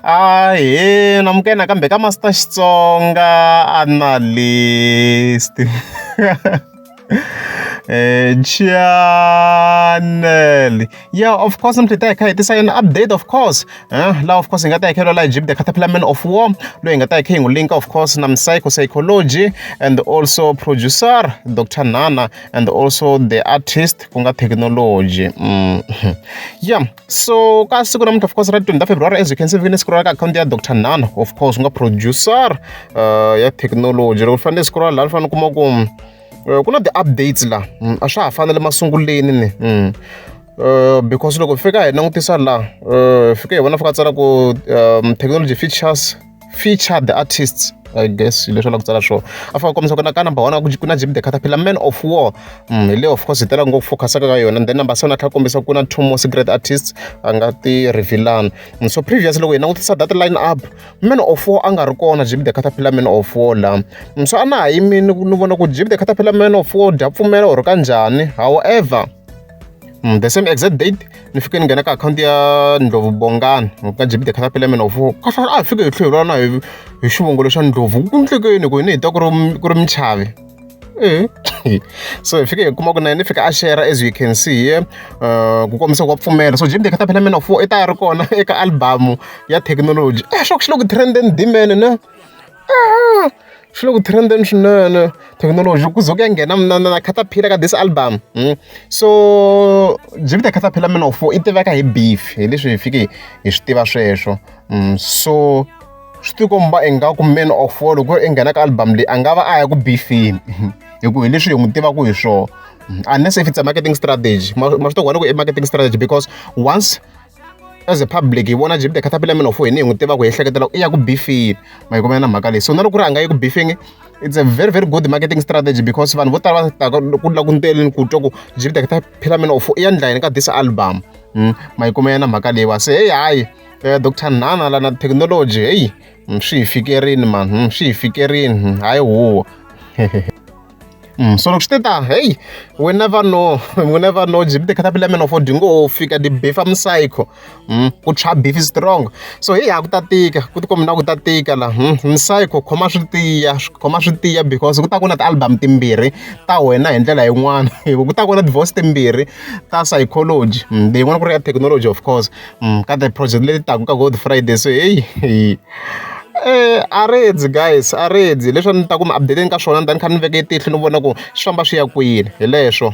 Ahee Namukela nakambe ka Master Xitsonga Analyst channel yeah of course mntu ta hi kha hi tisa yona update of course eh la of course hi nga ta hi khelwa la jib the caterpillar man of war loyi hi nga ta hi kha hi n'wi linka of course na psychology and also producer dr nana and also the artist ku nga technology mm. yeah so ka siku namuntlha of course ra 20 february as you can see vike ni siku ra ka akhawunti ya dr nano of course ku nga producer uh, ya technology loko ni fanele siku ra laha ni fanele kuma ku eh, ku na ti-updates laha mm, a swa ha fanele masunguleni ni mm. Eh, because loko fika hi langutisa laha eh, fike hi vona fika tsala ku um, technology features feature the artists i guess hi leswi a lava ku tsala swona a fika kombisa ku na ka number one ku ku na jimmy the caterpillar man of war mm, hi leyo of course hi tela ngopfu focusaka ka yona and then number seven a tlhela kombisa ku na two more secret artists a nga ti revealana mm, so previous loko hi langutisa that line up man of war a nga ri kona jimmy the caterpillar man of war la mm, so a na ha yimi ni vona ku jimmy the caterpillar man of war dya pfumela or ka njhani however Mm, the same exact date ni fike ni nghena ka akhawunti ya ndlovu bongani ka jibide khatapelemen of kahlwa a hi fike hi tlhelo rana hi hi xivongolo xa ndlovu ku ndlekeni ku yini hi ta ku ri ku ri michavi e so hi fike hi kuma ku na yena i fika a shera as you can see here uh, ku kombisa ku wa pfumela so jibide khatapelemen of i ta ya ri kona eka albamu ya thekinoloji a eh, swa ku xi le ku trenden dimene na swi le ku trend-eni swinene thekinoloji ku ze ku ya nghena na na na caterpillar ka this album so jupiter caterpillar man of war i tiveka hi beef hi leswi hi fike hi swi tiva sweswo so swi tikomba ingaku man of war loko i nghena ka album leyi a nga va a ya ku beefeni hi ku hi leswi hi n'wi tivaka hi swona unless if it's a marketing strategy ma swi tiva ku i marketing strategy because once as a public hi vona jimbe caterpillarminof hi ni hi n'wi tiva ku hi ehleketela ku i ya ku bifini ma yi komela na mhaka leyi so na loko ri a nga yi ku bifini it's a very very good marketing strategy because vanhu vo tala va taka ku la ku nteleni ku twa ku jimbe caterpillarminof i ya ndlayini ka this album hmm, ma yi komela na mhaka leyi wa se heyi hayi eh, dr nana lana technology heyi hmm, swi hi fikerini mani hmm, swi hi fikerini hayi huwa Mm, so loko swi te ta hey we never know we never know jip the caterpillar man of odingo wo fika the beef am psycho mm, ku tshwa beef is strong so hey ha ku ta tika ku tikombi na ku ta tika la mm, psycho khoma swi tiya khoma swi tiya because ku ta ku na ti-album timbirhi ta wena hi ndlela yin'wana ku ta ku na divorce timbirhi ta psychology mm, leyin'wana ku ri ya technology of course mm, ka the project leti taku ka good friday so hey, hey. a rindzi guys a rindzi leswi a ni ta ku mi update-eni ka swona ni ta ni kha ni veke tihlo ni vona ku swi famba swi ya kwini hi leswo